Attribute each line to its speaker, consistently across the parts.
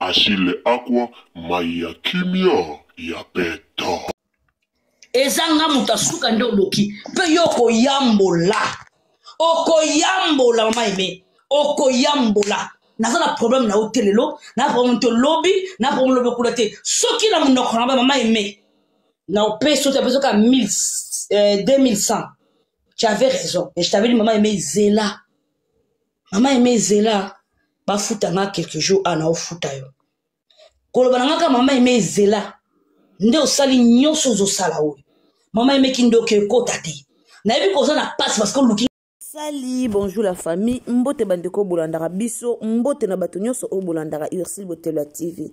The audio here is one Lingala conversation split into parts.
Speaker 1: Achille Akwa mayi ya kimia ya peta.
Speaker 2: eza nga moto asuka nde odoki mpe yo okoyambola okoyambola mama eme okoyambola naza na problème na yo te lelo na problème te lobi na problème lobi okula te soki na monoko na ba mama eme na opesi ote apesi oka 2100 tu avais raison et je t'avais dit mama eme zela mama eme zela bafuta nga quelque jour a na ofuta yo koloba na nga kaka mama eme zela nde osali nyonso ozosala oyo mama eme kindoki ekota te nayebi koza na pasi parce que oluki sali bonjour
Speaker 3: la famille mbote bandeko oyo bolandaka biso mbote na bato nyonso oyo bolandaka ursile botelo ya tv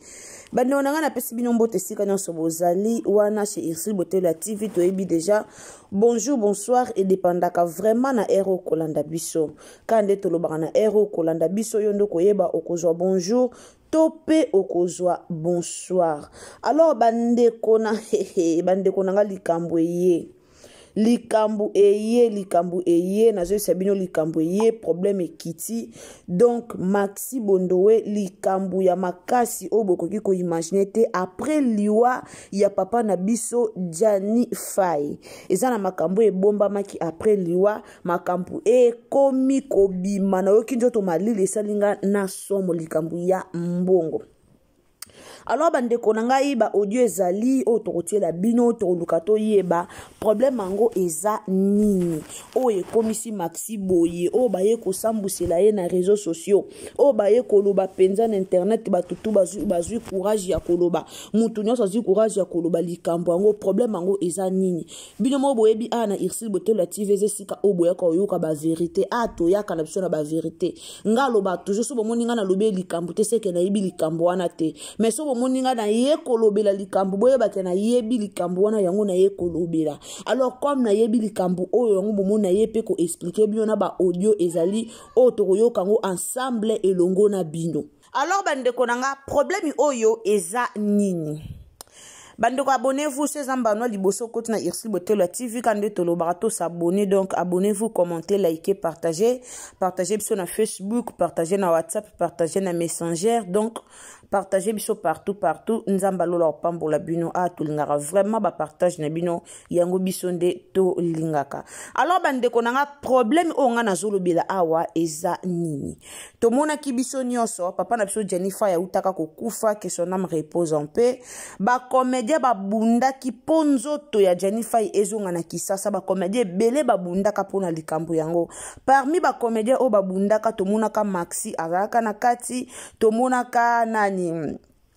Speaker 3: bandeko na ngai napesi bino mbote esika nyonso bozali wana chez ursile botelo ya tv toyebi deja bonjour bonsoir edependaka vraiment na ere okolanda biso kaka nde tolobaka na heure oyo kolanda biso yo nde okoyeba okozwa bonjour to mpe okozwa bonsoir alors bandeko na bandeko na ngai likambo eye likambo eye likambo eye nazoyebisa bino likambo eye problème ekiti donc maxi bondowe likambo ya makasi oyo bokoki koimagine te après liwa ya papa na biso jani fai eza na makambo ebombamaki après liwa makambo ekomi kobima nayoki nzoto malili esali nga na somo likambo ya mbongo alors bandeko na ngai baaudio ezali oyo tokotiela bino tokoluka toyeba problème yango eza nini oyo ekomisi maxi boye oyo baye kosambwisela ye na réseau sociaux oyo baye koloba mpenza na internet bato tu bazwi, bazwi courage ya koloba moto nyonso azwi courage ya koloba likambo yango problème yango eza nini bino moko boyebi awa na ursile botola tv eza esika oyo boyaka oyoka baverité a toyaka na biso na baverité nga aloba toujours so bomoni nga nalobi likambo te seke nayebi likambo wana te mais so bomoni nga naye kolobela likambo boyebake nayebi likambo wana yango naye kolobela alors comme nayebi likambo oyo yango bomoni naye mpe koexplike bino na baaudio ezali oyo tokoyoka yango ensemble elongo na bino alors bandeko na nga problème oyo eza nini bandeko abonnez-vous chez ambanois liboso koti na ursule botelo ya tv ka nde tolobaka to s'abonner donc abonnez-vous commenter liker partager partager biso na facebook partager na whatsapp partager na messenger donc partager biso partout partout nzambe alola opambola bino a ah, tolingaka vraiment bapartage na bino yango biso nde tolingaka alors bandeko na nga problème oyo nga nazolobela awa eza nini tomonaki biso nyonso papa na biso jennifer yautaka kokufa que son ame repose en paix bacomédien babundaki mpo nzoto ya jennifer ezonga na kisasa bacomédien ebele babundaka mpo na likambo yango parmi bacomédien oyo babundaka tomonaka maxi azalaka na kati tomonaka nani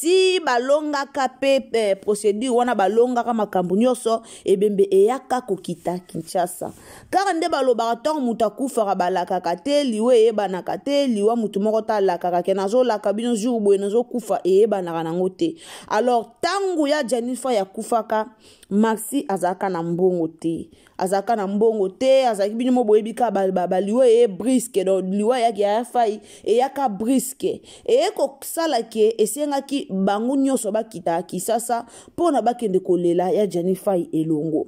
Speaker 3: ti balongaka mpe eh, procédure wana balongaka makambo nyonso ebembe eyaka kokita kinshasa kaka nde balobaka ntango moto akufaka balakaka te liwa eyebanaka te liwa moto moko te alakaka ke nazolaka bino jour boye nazokufa eyebanaka nango te alors ntango ya janifa yakufaka maxi azalaka na mbongo te azalaka na mbongo te azalaki bino mo boyebi ka baliwa eye briske donc liwa eyaki ya fai eyaka briske eye kosala ke esengaki bango nyonso bakita kisasa mpo na bakende kolela ya jani fai elongo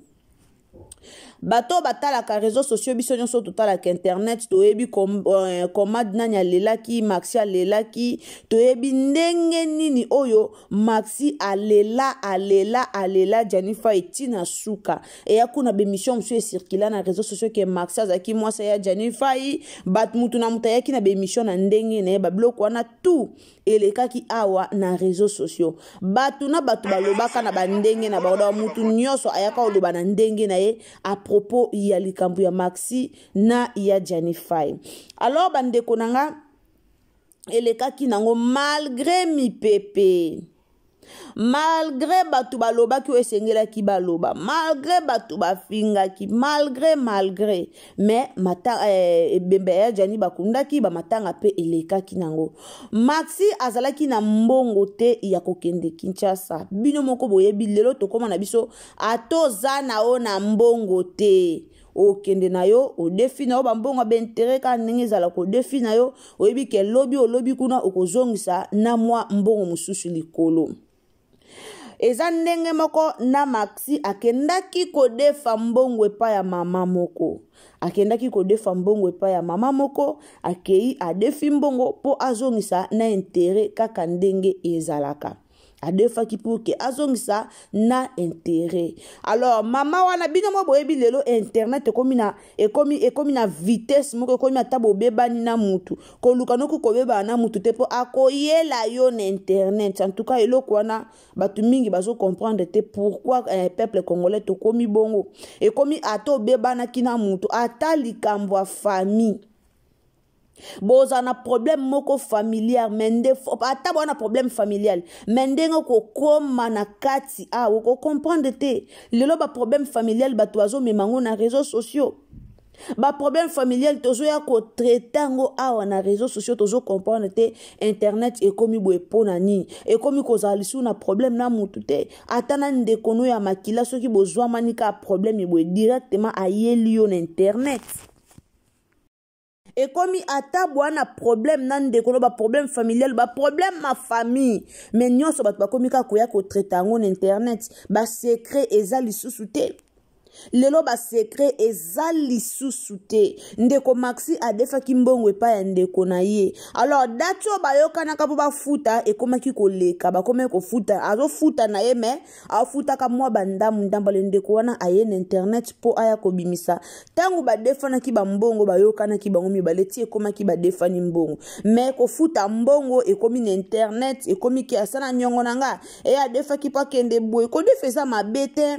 Speaker 3: bato oyo batalaka réseau sociaux biso nyonso totalaka internet toyebi euh, comad nani alelaki maxi alelaki toyebi ndenge nini oyo maxi alela alela alela janifa etina suka eya kuna bemission mosusu ecircula na réseau sociaux ke maxi azalaki mwasi ya jani fai bat motu na moto ayaki na bemission na ndenge na ye babiloko wana tout elekaki awa na réseau sociaux bato na bato balobaka na bandenge na bango motu nyonso ayaka koloba na ndenge na ye à propos ya likambo ya maxi na ya jani fai alors bandeko na nga elekaki nango malgre mipepe malgre bato balobaki oyo esengelaki baloba malgre bato bafingaki malgre malgre mais mata, eh, ebembe ya jani bakundaki bamatanga mpe elekaki nango maxi azalaki na mbongo te ya kokende kinshasa bino moko boyebi lelo tokóma na biso atoza na yo na mbongo te okende na yo odefi na yo bambongo ya baintere kaka ndenge ezala kodefi na yo oyebi ke lobi olobi kuna okozongisa na mwa mbongo mosusu likolo eza ndenge moko na maxi akendaki kodefa mbongo epai ya mama moko akendaki kodefa mbongo epai ya mama moko akei adefi mbongo mpo azongisa na intere kaka ndenge ezalaka adefaki pour ke azongisa na intérêt alors mama wana bino mwa boyebi lelo internet ekomi na ekomi ekomi na vitesse moko ekomi ata bobebani na mutu koluka noki kobebana na mutu te mpo akoyela yo na internet en tout cas eloko wana bato mingi bazo comprendre te pourquoi eh, peuple congolais tokomi bongo ekomi ata obebanaki na mutu ata likambo ya famille bozala na problème moko familiar me nde ata bwana problème familial me ndenge okokoma na kati awa ah, okocomprendre te lelo baproblème familial bato bazomema yango na réseau sociaux baproblème familial tozoya kotraite yango awa na réseau sociaux tozocomprendre te internet ekomi boye mpo na nini ekomi kozala lisusu na problème na motu te ata na ndeko no ya makila soki bozwamani kaka problème eboye directement ayeli yo na internet ekomi ata bwa na problème na ndeko no baproblème familial baproblème ma famille mais nyonso bato bakomi kaka koya kotraite yango na internet basecret eza lisusu te lelo basekre eza lisusu te ndeko maxi adefaki mbongo epai ya ndeko na ye alors dati oyo bayokanaka mpo bafuta ekomaki koleka bakomaki kofuta azofuta na ye mais afutaka mwa bandamu ndamba le ndeko wana aye na internet mpo aya kobimisa ntango badefanaki bambongo bayokanaki bango mibale ti ekomaki badefani mbongo me kofuta mbongo ekomi na internet ekomi ke asala nyongo na nga eye adefaki mpo akende boye kodefa eza mabe te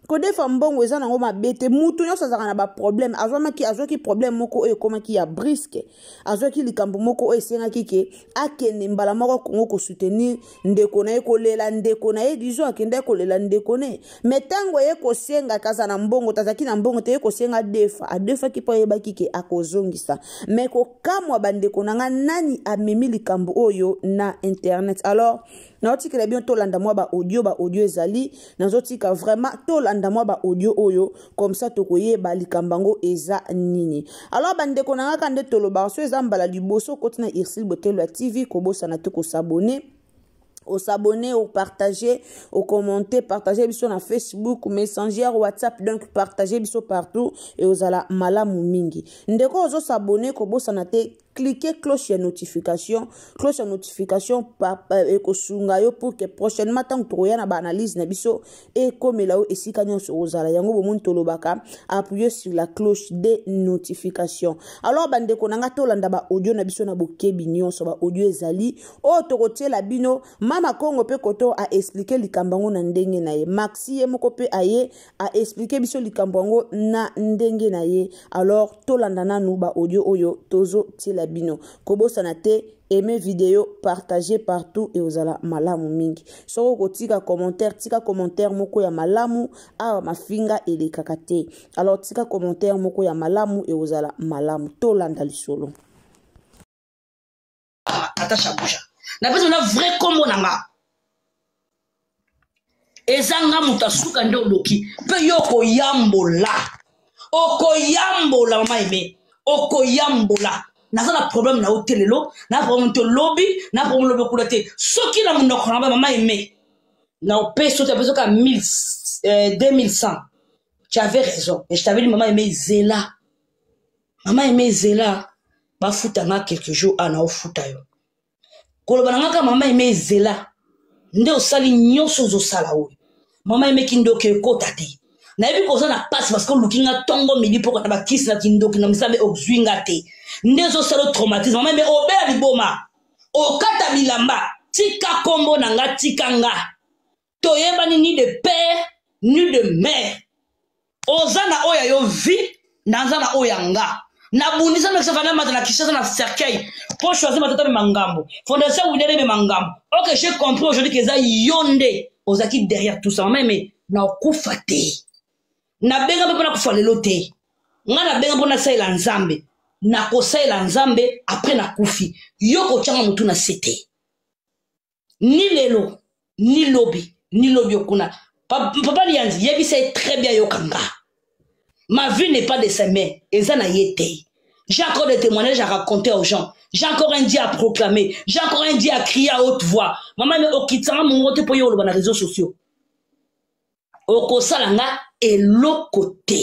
Speaker 3: kodefa mbongo eza nango mabe te moto nyonso azalaka na baproblème azwamaki azwaki problème moko oyo ekomaki ya briske azwaki likambo moko oyo esengaki ke akende mbala moko kongo kosoutenir ndeko na ye kolela ndeko na ye dizo akendaki kolela ndeko ne me ntango eye kosenga kaza na mbongo tazalaki na mbongo te ye kosenga defa adefaki mpo ayebaki ke akozongisa me kokamwa bandeko na ngai nani amemi likambo oyo na internet alors naotikela bino tolanda mwa baaudio baaudio ezali nazotika vraiment tolanda mwa baaudio oyo comme ça tokoyeba likambo yango eza nini alors bandeko na ngaka nde tolobaka so eza mbala liboso okoti na ursile botelo ya tv kobosana te kosabone osabonne opartage ocommente partage biso na facebook messenger whatsapp donc partage biso partout e ozala malamu mingi ndeko ozosabonne kobosana te cliquer cloche ya notification cloche ya notification euh, ekosunga yo pour que prochainement ntango tokoya na baanalyse na biso ekomela yo esika nyonso ozala yango bomoni tolobaka appuyer sur la cloche de notification alors bandeko na ngai tolanda baaudio na biso na bokebi nyonso baaudio ezali oyo tokotiela bino mama kongo mpe koto aexplike likambo yango na ndenge na ye maxi ye moko mpe aye a expliquer biso likambo yango na ndenge na ye alors tolanda nanu ba audio oyo tozo tiela bino kobosana te aime video partage partout ekozala malamu mingi soki okotika commentaire tika commentaire moko ya malamu awa mafinga elekaka te alors tika commentaire moko ya malamu ekozala malamu tolanda lisolo
Speaker 2: ata shabusha na pesa na vrai kombo na nga eza nga moto asuka nde odoki mpe yo okoyambola okoyambola mama eme okoyambola naza na problème na yo te lelo na problème te lobi na problème lobi kuna te soki na monoko na ba mama eme na opesi ote apesi oka 2100 tu avais raison et je t'avais dit mama eme zela mama eme ezela bafuta nga quelque jour a na ofuta yo koloba na nga kaka mama eme ezela nde osali nyonso ozosala oyo mama eme kindoki ekota te nayebi koza na mpasi parce que oluki nga ntongo midi mpo kata bakisi na kindoki na misabe ozwi nga te nde ezosala traumatisme mama eme obela liboma okata bilamba tika nkombo na nga tika nga toyebani ni de père ni de mère oza na oyo ya yo vie naza na oyo ya nga nabundisa mekisa vanda mata na kishasa na cercueil mpo choisi matata mema ngambo fondation wilere mema ngambo ok j'ai compris aujourd'hui keza yo nde ozalaki derrière tout ça mama eme na okufa te nabenga mpe mpo nakufa lelo te ngai nabenga mpo nasalela nzambe nakosalela nzambe apres nakufi yo kotyanga motu na se te ni lelo ni lobi ni lobi okuna papa liyanzi yebisa ye très bien yoka nga ma vie n'est pas de ses mains eza na ye te j'ai encore des témoignages à raconter aux gens j'ai encore un dieu à proclamer j'ai encore un dieu à crier à haute voix mama me okitanga mongo te mpo ye oloba na réseaux sociaux okosala nga eloko te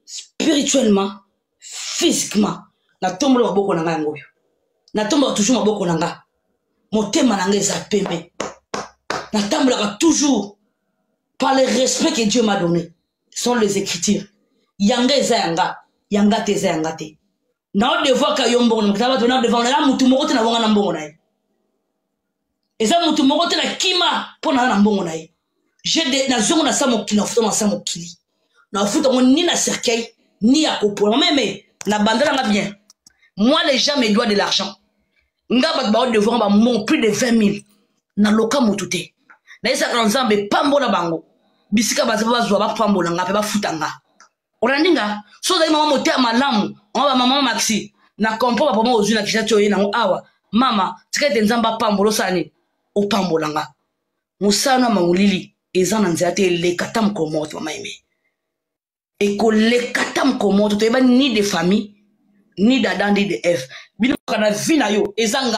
Speaker 2: spirituellement physiquement natombola maboko na nga yango oyo natombola toujours maboko na nga motema na nga eza pembe natambolaka toujours par le respect que dieu m'a donné sont les écritures yanga eza yanga yanga te eza yanga te nao devoaka yo mbongo na makita bato nao devoaka eza motu moko te na bonga na mbongo na ye eza motu moko te na kima mpo naza na mbongo na ye nazongo na sa mokili nafuta na sa mokili nafuta yango ni na cercueil ni ya kopola meme na banda nanga bien moi les gens me doit de l'argent nga bato bao devoir bambongo plus de 20 000 naloka motu te nayesaka na nzambe pambola bango bisika bazwa bapambola nga mpe bafuta nga olandi nga so ozali mama motema malamu mama bamama maxi na kompo bapama ozwi na kisa ti oye nango awa mama tika ete nzambe apambola osala nini opambola nga mosala na mangolili eza na nzela te eleka ta mokolo moko te mama eme ekoleka ta mokolo moko te toyeba ni de famille ni dada ndi de f bino kana vi na yo eza nga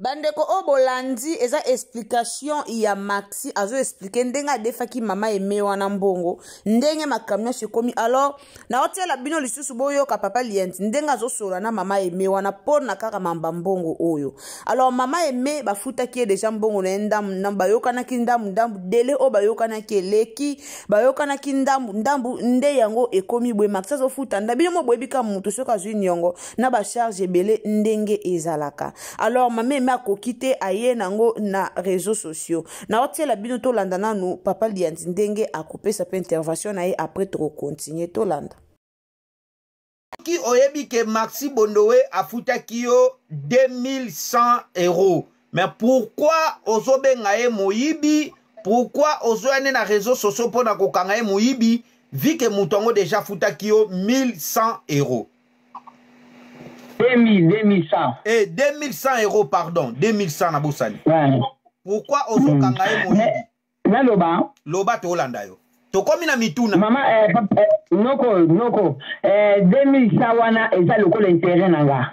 Speaker 3: bandeko oyo bolandi eza explication ya maxi azo explike ndenge adefaki mama eme wana mbongo ndenge makambo nyonso ekomi alors naotiela bino lisusu boyoka papa lienti ndenge azosolola na mama eme wana mpo na kaka mamba mbongo oyo alors mama eme bafutaki ye deja mbongo na ye ndambu ndambu bayokanaki ndambu ndambu dele oyo bayokanaki eleki bayokanaki ndambu ndambu nde yango ekomi boye maxi azofuta nda bino mo boyebi kaka motu soki azwi niongo na ba charge ebele ndenge ezalaka alors mama eme akoki te aye nango na réseaux sociaux naotiela bino tolanda nanu papa liyanzi ndenge akopesa mpe intervention na ye après tokokontinue tolanda
Speaker 4: soki oyebi ke maxi bondowe afutaki yo 2100 euros mais pourquoi ozobenga ye moyibi pourquoi ozoya nde na réseau sociaux mpo na kokanga ye moyibi vi ke moto yango deja afutaki yo 1100 euros 2000, 2100.
Speaker 5: Eh,
Speaker 4: 2100 euros, pardon. 2100 na bosani. Ouais.
Speaker 5: Pourquoi
Speaker 4: ozokanga ye moyibi? Naloba.
Speaker 5: Loba tolanda yo.
Speaker 4: tokomi na mituna mama eh, eh,
Speaker 5: noko noko eh, 2100 wana eza lokola interet na nga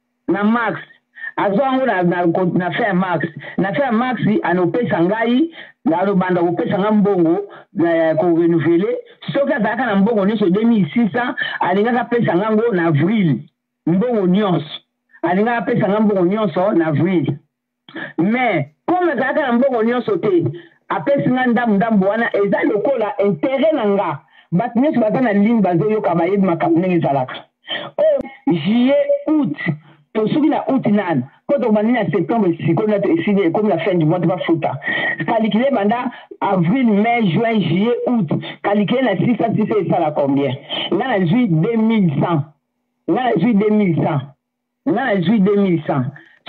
Speaker 5: na max azwa yango na, na, na fin ya max na fin ya max anopesa ngai alobanda kopesa ngai mbongo eh, ko renouveler soki azalaka na mbongo nyonso 2600 alingaki apesa ngai yango na avril mbongo nyonso alingaki apesa ngai mbongo nyonso na avril mais comme azalaka na mbongo nyonso te apesi nga ndambu ndambu wana eza lokola interet na nga bato nyonso baza na ligne bazoyoka bayebi makambo ndenge ezalaka oyo oh, juillet août tosuki na août nani mpo tobandi na septembre sikoyo na esili ekomi na fin du mois tobafuta kalikile banda avril mai juin juillet août kalikile na sisa sisa esala combien nga nazwi 2100 nga nazwi 2100 Nga na zui 2100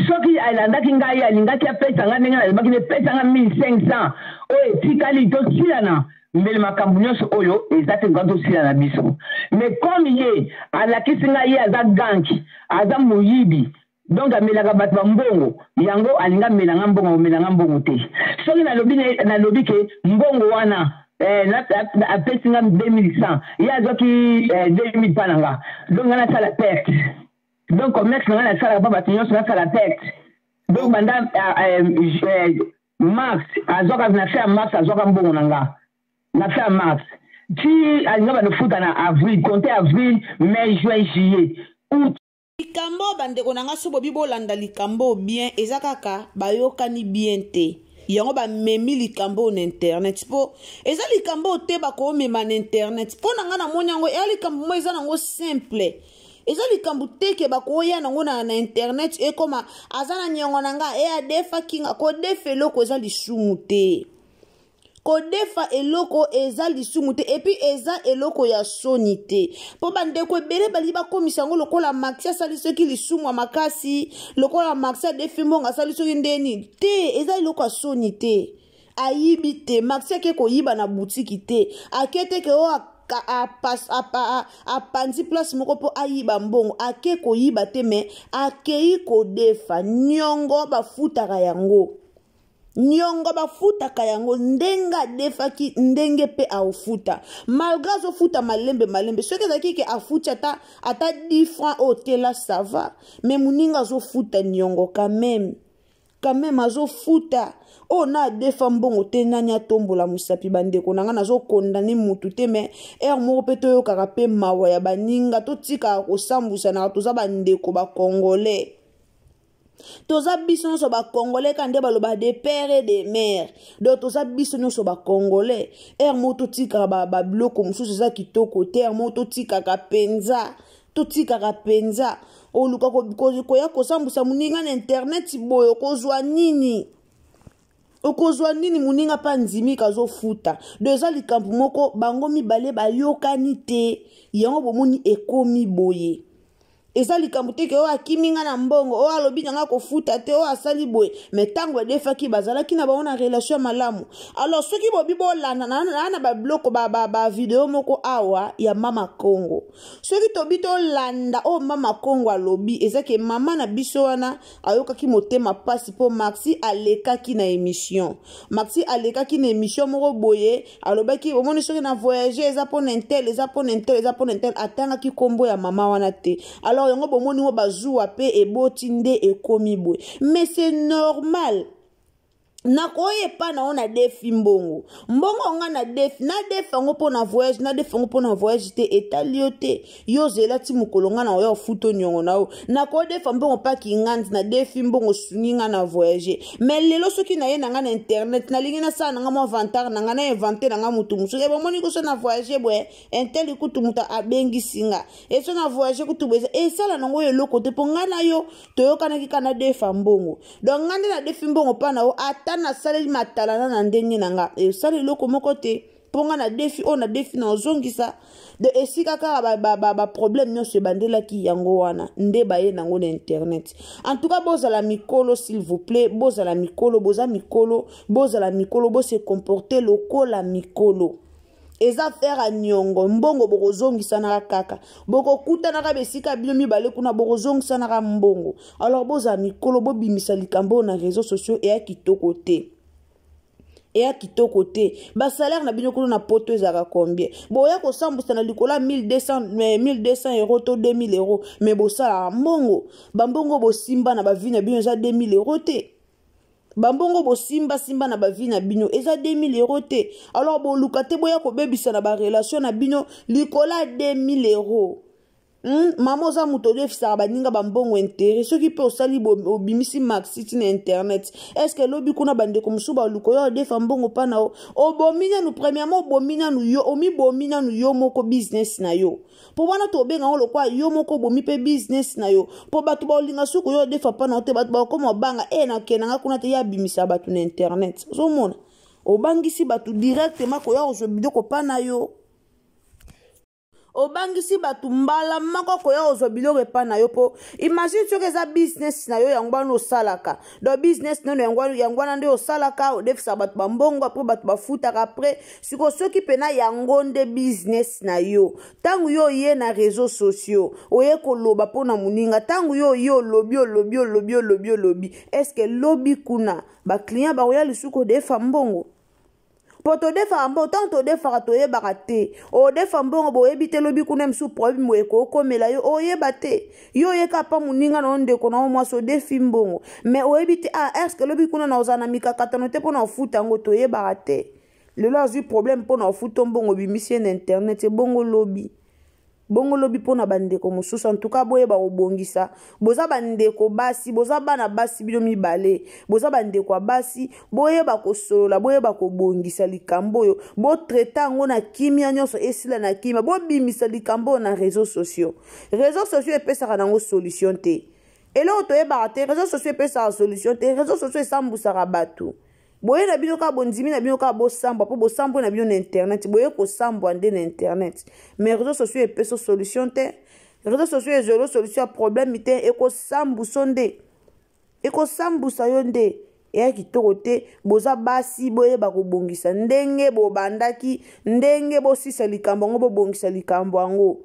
Speaker 5: soki alandaki ngai alingaki apesa nga ndenge nalobaki ne pesa nga 1500 oyo etikali tosilana mbele makambu nionso oyo eza te luka tosilana biso mais comme ye alakisi nga ye aza gank aza moyibi donc amelaka batu ba mbongo yango alingi amela nga mbongo akomela nga mbongo te soki nalobi nalobi ke mbongo wana eh, na, na, apesi nga 2100 ye azwaki eh, 2000 mpa na nga donc nga nasala perte donc commerce na nga nasalaka mpa bato nyonso nasala perte donc banda ah, eh, eh, mars azwaka na fin ya mars azwaka mbongo na nga na fin ya mars ti alinga banofuta na avril compte avril mai juin juillet août likambo
Speaker 3: bandeko na ngai so bobi bolanda likambo oyo bien eza kaka bayokani bien te yango bamemi likambo oyo na internet mpo eza likambo oyo te bakomema na internet mpo na ngai namoni yango eya likambo moko eza nango simple eza likambo te ke bakoya nango na, na internet ekoma aza na niongo na ngai eya defa kinga kodefa eloko eza lisumu te kodefa eloko eza lisumu te epuis eza eloko ya soni te mpo bandeko ebele balingi bakomisa yango lokola maxi asali soki lisumu ya makasi lokola maxi adefi mbongo asali soki nde nini te eza eloko ya soni te ayibi te maxi ake koyiba na butiki te ake te ke o oh, apanzi place moko mpo ayiba mbongo ake koyiba te me akei kodefa niongo bafutaka yango niongo bafutaka yango ndenge adefaki ndenge mpe aofuta malgre azofuta malembe malembe soki ezalaki ke afuti ata ata 10 franc oyo tela sava me moninga azofuta niongo kameme kameme azofuta oyo oh, na adefa mbongo te nani atombola mosapi bandeko na ngai nazokondane mutu te me ere moko mpe toyokaka mpe mawa ya baninga totikaka kosambusanaka toza bandeko bakongolais toza biso nyonso bacongolais ka nde baloba de père et de mare donc toza biso nyonso bacongolais ere moko totikaka babiloko ba mosusu eza kitoko te ere moko totikaka mpenza totikaka mpenza oluka koya kosambwisa moninga na interneti boye okozwa nini okozwa nini moninga mpe andimika azofuta do eza likambo moko bango mibale bayokani te yango bomoni ekomi boye eza likambo te ke oyo akimi nga na mbongo oyo alobi na nga kofuta te oyo asali boye me ntango badefaki bazalaki na bango na relation ya malamu alors soki bobi bolanda naa na babiloko bavideo moko awa ya mama congo soki tobi tolanda oyo mama congo alobi eza ke mama na biso wana ayokaki motema pasi mpo maxi alekaki na emission maxi alekaki na emission moko boye alobaki omoni soki na voyage eza mpo na intel eza mpo na intel eza mpo na intel atangaki nkombo ya mama wana te alors yango bomoni ngo bazuwa mpe eboti nde ekomi boye mais c'est normal nakoya epai na yo na defi mbongo mbongo yanga na defi na defi yango mpo na voyage na defi yango mpo na voyage te etali yo te yo ozela ti mokolo ngai na oya ofuta oniongo na yo nakodefa mbongo mpaki ngandi na defi mbongo sungi ngai na voyage mai lelo soki naye na ngai na internet nalingi nasala na ngai mwa vantare na ngai na invente na ngai motu mosusu e bomoni koso na voyage boye inteli kutu moto abengisi ngai eso na voyage kutu boye esala nango eloko te mpo ngai na yo toyokanaki kaka nadefa mbongo donc ngai nde nadefi mbongo mpa na yo ata nasaleli matalana na ndenge na nga esali eloko moko te mpo ngai nadefi oyo nadefi na ozongisa de esika kaka baproblème nyonso ebandelaki yango wana nde baye nango na internet en tout cas bozala mikolo s'il vous plaît bozala mikolo boza mikolo bozala mikolo bose comporte lokola mikolo eza affaire ya niongo mbongo bokozongisanaka kaka bokokutanaka besika bino mibale kuna bokozongisanaka mbongo alors bozala mikolo bobimisa likambo oyo na réseau sociaux eya kitoko te eya kitoko te basalaire na bino kuna na poto ezalaka combien boya kosambusa na likolo ya 1200 euro to 2000 euro me bosalaka mbongo bambongo bosimba na bavi na bino eza 2000 euro te bambongo bosimbasimba na bavi na bino eza 2000 euro te alors boluka te boya kobebisa na barelation na bino likolo ya 2000 euro Hmm? mama oza moto olefisaka baninga bambongo intere soki mpe osali obimisi maxi ti na internet estce lobi kuna bandeko mosusu baluka oyo odefa mbongo mpa na yo obomi nanu premièrement obomi nanu yo omibomi nanu yo moko business na yo mpo wana tobenga yango lokola yo moko obomi mpe bizinesi na yo mpo bato baolinga soki oyo odefa mpa na yo te bato bakokoma obanga e eh, nakenda nga kuna te ye abimisa bato na internet ozomona obangisi bato directement koya kozwa biloko mpa na yo obangisi bato mbala moko koya kozwa biloko epai na yo mpo imagine soki eza business na yo yango wana osalaka donc business nono yango yango wana nde osalaka odefisaka bato bambongo apres bato bafutaka apres siko soki mpena yango nde business na yo ntango yo oye na réseau sociaux oye koloba mpo na moninga ntango yo oye olobi olobi olobi olobi olobi estce lobi kuna baclient bakoya lisusu kodefa mbongo mpo todefaka mbongo ntango todefaka toyebaka te odefa mbongo boyebi te lobi kuna mosusu problème boye ekokomela yo oyeba te yo oyeka mpa moninga na yo ndeko na yo mwasi odefi mbongo mais oyebi te ah estce lobi kuna na ozala na mikakatano te mpo na ofuta yango toyebaka te lelo azwi problème mpo na ofuta mbongo obimisi ye na internet ebongo lobi bongo lobi mpo na bandeko mosusu antuka boyeba kobongisa boza bandeko basi boza bana basi bino mibale boza bandeko ya basi boyeba kosolola boyeba kobongisa likambo oyo botraite yango na kimia nyonso esila na kimia bobimisa likambo oyo na réseau sociaux réseau sociaux epesaka nango solution te eloko toyebaka te réseau sociaux epesaka solution te réseau sociaux esambusaka bato boye na bino kaka bondimi na bino kaka bosambwa mpo bosambwe na bino na internet boye kosambwa nde na internet mais réseau sociaux epeso solution te réseau sociaux ezolo solution ya problème te ekosambuso nde ekosambusa yo nde eya kitoko te boza basi boyeba kobongisa ndenge bobandaki ndenge bosisa likambo yango bobongisa likambo yango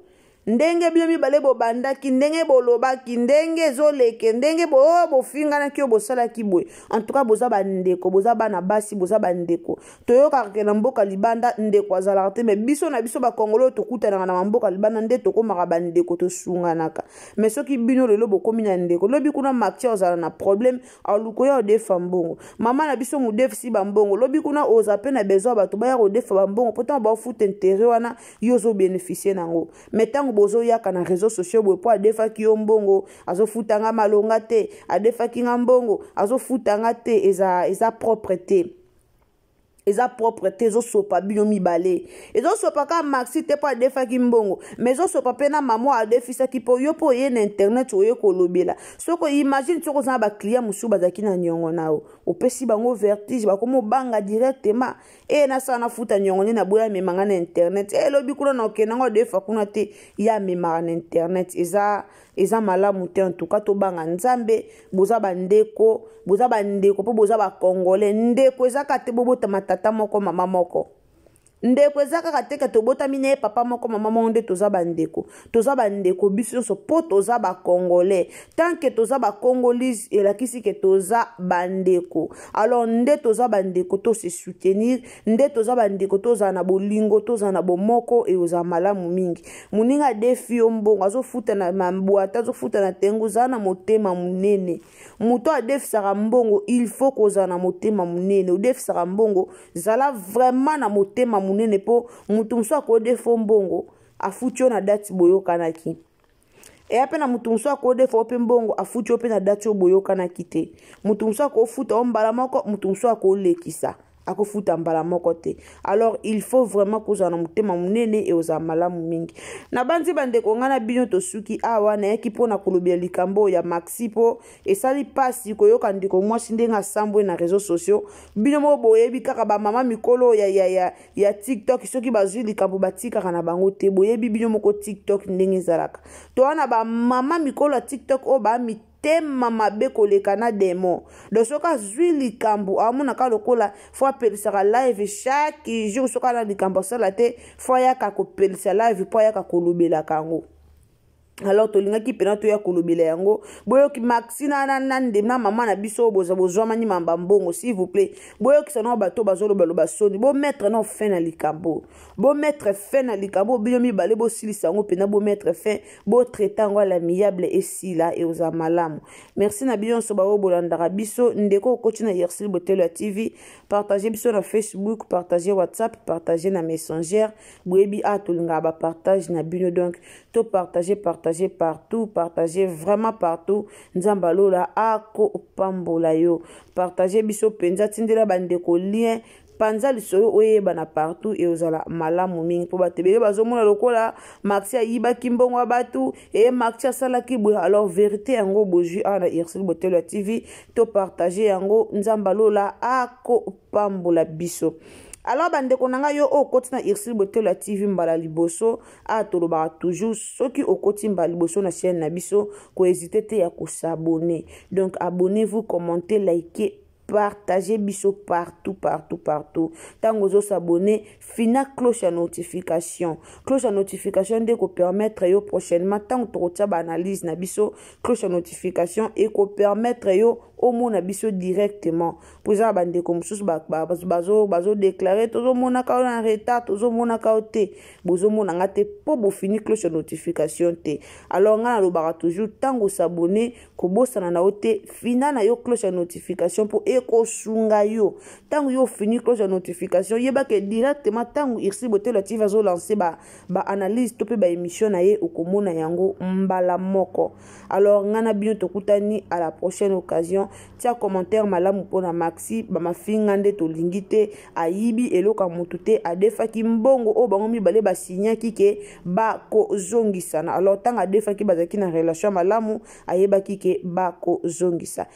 Speaker 3: ndenge bino mibale bobandaki ndenge bolobaki ndenge ezoleke ndenge bo oh, bofinganaki oyo bosalaki boye antuka boza bandeko boza bana basi boza bandeko toyokaka ke na mboka libanda ndeko azalaka te me biso na biso bakongolo oyo tokutanaka na bamboka libanda nde tokomaka bandeko tosunganaka me soki bino lelo bokomi na ndeko lobi kuna makti ozala na probleme aluko ya odefa mbongo mama na biso modefisi bambongo lobi kuna oza mpe na besoin bato baya kodefa bambongo mpo ntango baofuta intere wana yo ozo beneficie nango me ntango bozoyaka na réseau sociaux boye mpo adefaki yo mbongo azofuta nga malonga te adefaki nga mbongo azofuta nga te eza, eza propre te eza propre te ezosopa bino mibale ezosopa kaka maxi te mpo adefaki mbongo ma ezosopa mpe na mama adefisaki mpo yo mpo oye na internet oye kolobela soko imagine soki oza na baclient mosusu bazalaki na niongo na yo opesi bango vertige bakomi obanga directement eye nasala nafuta nyongo nde naboya amema ngai na internet e lobi kuna na okenda ngai odefa kuna te ye amemaka na internet eza eza malamu te antuka tobanga nzambe boza bandeko boza bandeko mpo boza bakongole ndeko eza kaka te bobotama tata moko mama moko ndeko eza kaka te ke tobotami na ye papa moko mama moko nde toza bandeko toza bandeko biso nyonso mpo toza bacongolais tant ke toza bacongolise elakisi ke toza bandeko alors nde toza bandeko to se soutenir nde toza bandeko tozala na bolingo tozala na bomoko ekozala malamu mingi moninga adefi yo mbongo azofuta na mabwata azofuta na tengo ozala na motema monene moto adefisaka mbongo il faut kozala na motema monene odefisaka mbongo zala vraiment na motema monene mpo moto mosusu akodefo mbongo afuti yo na dati boyokanaki eya mpe na moto mosusu akodefa yo mpe mbongo afuti yo mpe na dati oyo boyokanaki te moto mosusu akofuta yo mbala moko moto mosusu akolekisa akofuta mbala moko te alors il faut vraiment kozala na motema monene eozala malamu mingi nabanzi bandeko ngai na bino tosuki awa nayaki mpo na kolobela likambo oyo ya maxi mpo esali mpasi koyoka ndeko mwasi ndenge asambwe na réseau sociaux bino moko boyebi kaka bamama mikolo ya, ya, ya, ya tiktok soki bazwi likambo batikaka na bango te boyebi bino moko tiktok ndenge ezalaka to wana bamama mikolo ya tiktok oyo bamitema mabe koleka na demo do soki azwi likambo amonaka lokola fo apelisaka live chaque jour soki ana likambo asala te fo ayaka kopelisa live mpo ayaka kolobelaka yango alors tolingaki mpena toya kolobela yango boyoki maxi na, na, na, na mama na biso boza bozwamani mamba mbongo s'il vous plaît boyokisa nao bato bazolobaloba soni bomettre nao fin na likambo bomettre fin na likambo bino mibale bosilisa yango mpena bomettre fin botraite yango alamiable esila eoza malamu merci na bino nyonso baoyo bolandaka biso ndeko okoti na yersil botelo ya tv partage biso na facebook partage whatsapp partage na messenger boyebi a ah, tolingaka bapartage na bino donc to partage partage partout partage vraiment partout nzambe alola akopambola yo partage biso mpenza tindela bandeko lien panza lisolo oyebana partout e ozala malamu mingi mpo bato ebele bazomona lokola maxi ayibaki mbongo ya bato e maxi asalaki boye alors verité yango bozwi awa na ursile botelo ya tv to partage yango nzambe alola ako apambola biso alors bandeko na ngai yo oyo okoti na ursule botelo ya tv mbala liboso awa tolobaka toujours soki okoti mbala liboso na chaîne na biso kohésite te ya kosabone donc abonnez vous commente like partage biso partout partout partout ntango ozosabone fina cloche ya notification cloche ya notification nde ekopermettre yo prochainement ntango tokotya baanalyse na biso cloche ya notification ekopermettre yo omona biso directement mpo eza na bandeko mosusu bazodeklare tozomonaka yo na retard tozomonaka yo te bozomona nga te mpo bofini cloche ya notification te alors ngai nalobaka toujours ntango osabone kobosana na yo te fina na yo cloche ya notification mpo ekosunga yo ntango yo ofini cloche ya notification yebake directement ntango ursi botelo tv azolanse baanalyse ba to mpe baémission na ye okomona yango mbala moko alors ngai na bino tokutani à la prochaine occasion tia commentaire malamu mpo na maxi bamafinga nde tolingi te ayibi eloko ya motu te adefaki mbongo oyo bango mibale basignaki ke bakozongisana alors ntango adefaki bazalaki na relation malamu ayebaki ke bakozongisa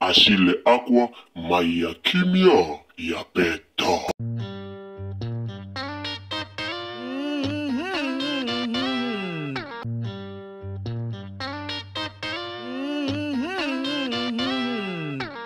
Speaker 1: Achille Akwa mayi ya kimia ya peta.